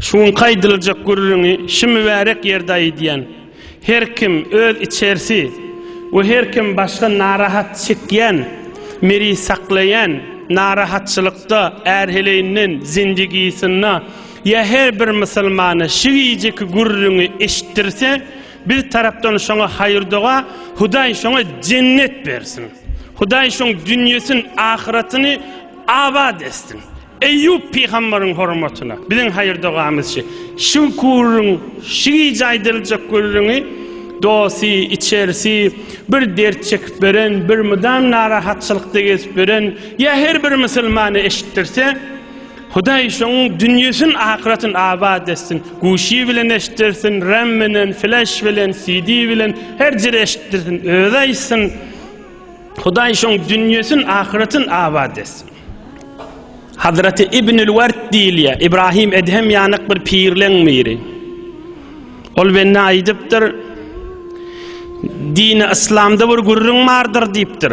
Şu günki aýdyljak gürrüňi şu mübärek ýerde aýdýan. Her kim öz içerisi we her kim başga narahat çekýän, miri saklaýan narahatçylykda ärheleýinden zindigisynda ýa her bir musulmana şu gijeki gürrüňi eşitdirse, biz tarapdan şoňa haýyrdoga, Hudaý şoňa jennet bersin. Hudaý şoň dünýesin, ahyratyny abat etsin. Eýýup pygambaryň hormatyna biziň haýyr-dogamyzçy şu gürrüň, şu gije aýdyljak gürrüňi dosty, içerisi bir dert çekip ýören, bir mydam narahatçylykda gezip ýören ýa her bir musulmana eşitdirse, Hudaý şonuň dünýesini, ahyretini abat etsin, guşy bilen eşitdirsin, ram bilen, flaş bilen, CD bilen, her jere eşitdirsin, özi aýtsyn. Hudaý şoň dünýesin ahyretyn abat etsin. Hazraty Ibnül Wert diýilýär. Ibrahim Edhem ýanyk bir pirleň biri. Ol bende aýdypdyr. Dini Islamda bir gürrüň bardyr diýipdir.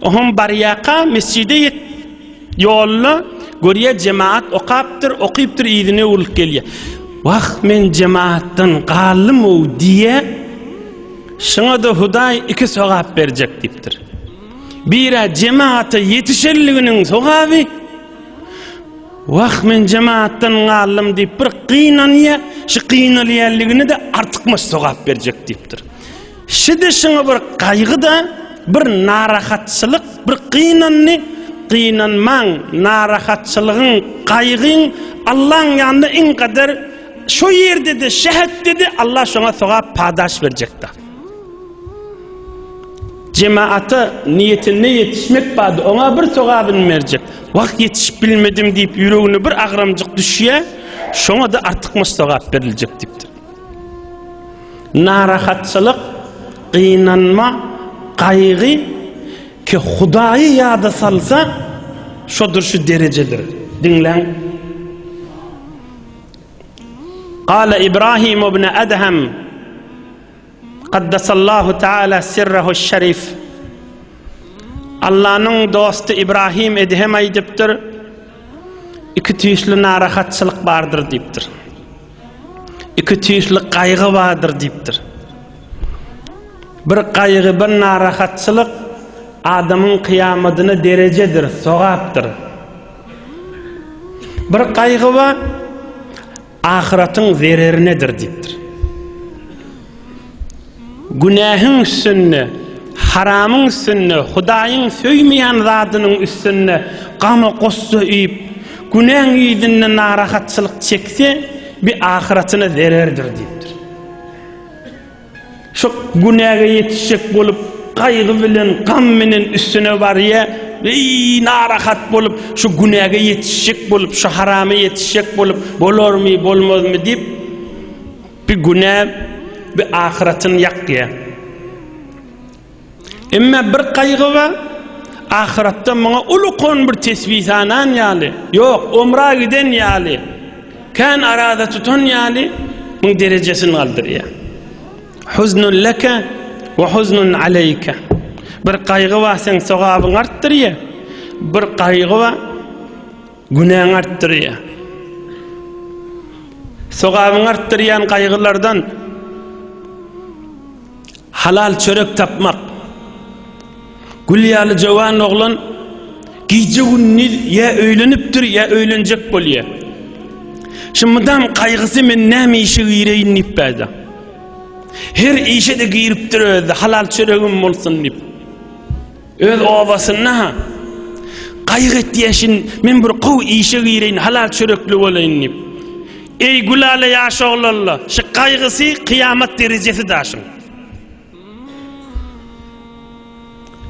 Ohoň barýaka mesjide ýet. Ýolda görýä jemaat okapdyr, okypdyr yzyna öwrülip gelýä. Wah men jemaatdan galdym-ow diýä. Şuňada Hudaý iki sogap berjek diýipdir. Birä jemaata ýetişenliginiň sogaby. Wah men jemaatdan galdym diýip bir gynanýa, şu gynalýanligini-de artykmaç sogap berjek diýipdir. Şidi şyňy bir gaýgy-da, bir narahatçylyk, bir gynandy, Gynanmaň, narahatçylygyň, gaýgyň Allaň ýanynda iň gader, şo ýerde-de şähetde-de Allah şoňa sogap padaş berjekdir. Jemaata niýetinde ýetişmek bady, oňa bir sogabyny berjek. Wah, ýetişip bilmedim diýip ýüregine bir agramjyk düşýär, şoňa-da artykmaç sogap beriljek diýipdir. Narahatçylyk, gynanma, gaýgy ki Hudaýy ýada salsa, şodur şu derejedir. Diňläň. Gala Ibrahim ibn Adham Qaddasallahu taala sirrahu şerif Allanyň dosty Ibrahim Edhem aýdypdyr, iki tüýsli narahatçylyk bardyr diýipdir. Iki tüýsli gaýgy bardyr diýipdir. Bir gaýgy, bir narahatçylyk adamyň kyýamadyna derejedir, sogapdyr. Bir gaýgy bar, ahyratyň zererinedir diýipdir. Günähiň üstünde, haramyň üstünde, Hudaýyň söýmeýän zadynyň üstünde gama-gussa iýip, günäň yzynda narahatçylyk çekse, bi ahyratyna zererdir diýipdir. Şo günäge ýetişjek bolup, gaýgy bilen, gam bilen üstüne barýa, beý narahat bolup, şu günäge ýetişjek bolup, şu harama ýetişjek bolup, bolarmy, bolmazmy diýip, Bi güne bi ahyratyn ýakýa. Emme bir gaýgy bar, ahyratda muňa ulukon bir tesbi sanan ýaly, ýok, omra giden ýaly, kän araza tutan ýaly muň derejesini galdyrýa. Huznun leke we huznun aleýke. Bir gaýgy bar, seň sogabyň artdyrýa, bir gaýgy bar, Günäňi artdyrýar. Sogabyňy artdyrýan gaýgylardan halal çörek tapmak. Gül ýaly jowan oglan gije gündiz ýa öýlenipdir ýa öýlenjek bolýar. Şu mydam gaýgysy men näme işe gireýin diýip bäda. Her işe de giripdir özi halal çöregim bolsun diýip. Öz obasynda-ha gaýgy etýäşin, men bir gowy işe gireýin, halal çörekli bolaýyn diýip. Eý, Gülala ýaş oglalla, şu gaýgysy kyýamat derejesi daşyň.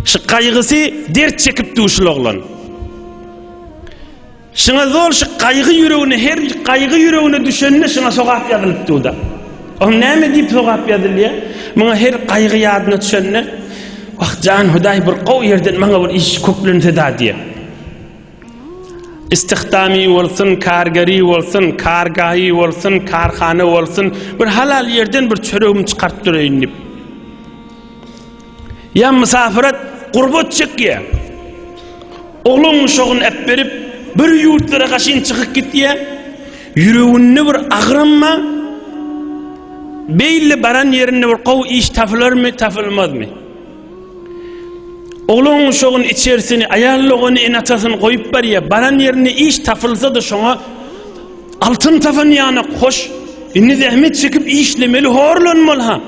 Şu gaýgysy dert çekipdi şul oglan. Şyňa zol şy gaýgy ýüregine her gaýgy ýüregine düşende şyňa sogap ýazylyp duda. Oň näme diýip sogap ýazylýa? Muňa her gaýgy ýadyna düşende Wah jan Hudaý bir gowy ýerden maňa bir iş köplense-da diýe. Istihdamy bolsun, kargeri bolsun, kargahy bolsun, karhana bolsun, bir halal ýerden bir çöregimi çykaryp dureýin diýip. Ýa mysafyrat, gurbat çekýä. Oglan guşagyny äpberip, bir ýurtlara gaşyn çykyp gitýä. Ýüreginde bir agramma, beýle baran ýerinde bir gowy iş tapylarmy, tapylmazmy? Oglan guşagyny, içersini, aýal dogany, ene-atasyny goýup barýa. Baran ýerinde iş tapylsa-da şoňa altyn tapan ýanak, hoş, indi zähmet çekip işlemeli, horlanmaly-ha.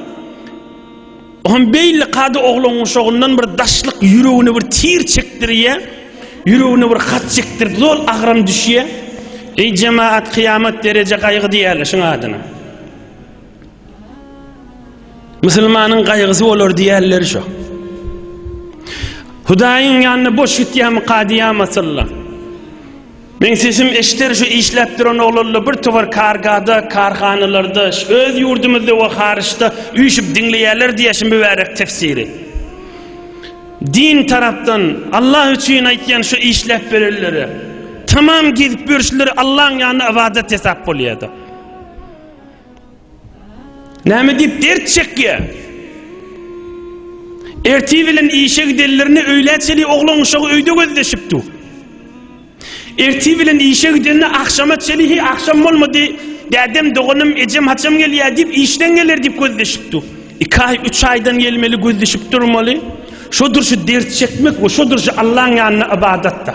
O hem beýle kada oglan guşagyndan bir daşlyk ýüregine bir tir çekdirýär, ýüregine bir hat çekdirip zol agram düşýär. Eý jemaat kyýamat dereje gaýgy diýýärler şuň adyna. Musulmanyň gaýgysy bolar diýýärler şo. Hudaýyň ýanyna boş gitýärmi kadyýa masylla. Meň sesim eşder şu işläp duran oglanlar bir towar kargada, karhanalarda, öz ýurdumyzda we haryçda üýşüp diňleýärler diýýär şu mübärek tefsiri. Din tarapdan, Allah üçin aýtýan şu işläp berenlere. Tamam gezip ýörşleri Allaň ýanynda ybadat hesap bolýada. Näme diýip dert çekýär? Ertir bilen işe gidenlerinde öýlä çenli oglan uşagy öýde gözleşip dur. Ertir bilen işe gidende agşama çenli he agşam bolmady, dädem, doganym, ejem haçan gelýär diýip işden geler diýip gözleşip dur. Iki aý, üç aýdan gelmeli gözleşip durmaly. Şodur şu dert çekmek we şodur şu Allaň ýanynda ybadatda.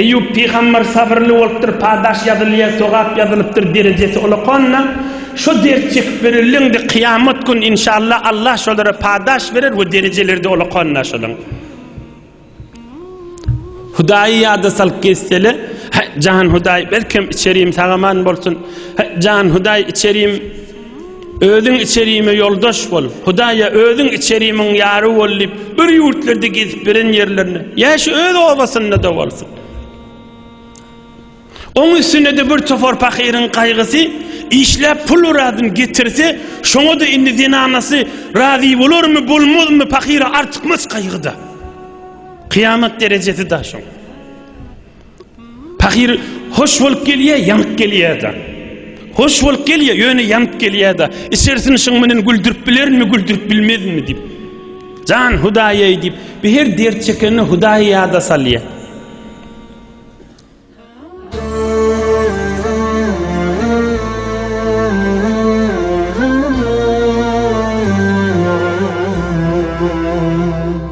Eýýup pygamber sabyrly bolupdyr, padaş ýazylýa, sogap ýazylypdyr, derejesi ulakanna, şo dert çekip ýörenleňde kyýamat gün inşallah Allah şolara padaş berer we derejeleride ulakanna şolaň. Hudaýy ýada salyp gezsele, he jan Hudaý belkem içerim sagaman bolsun, he jan Hudaý içerim, Özüň içerime ýoldaş bol, Hudaýa özüň içerimiň ýary bol diýip, bir ýurtlarda gezip beren ýerlerine, ýa şu öz obasynda-da bolsun. Oň üstüne-de bir topar pahyryň gaýgysy, işläp pul razyny getirse, şoňa-da indi zenanasy razy bolarmy, bolmazmy, pahyra artykmaç gaýgy-da. Kyýamat derejesi-da şoň. Pahyr hoş bolup gelýär, ýanyp gelýär-de. Hoş bolup gelýär, ýöne ýanyp gelýär-de. Içerisini şuň menen güldürip bilerinmi, güldürip bilmezinmi diýip. Jan Hudaýaý diýip, bir her dert çekende Hudaýy ýada salýar.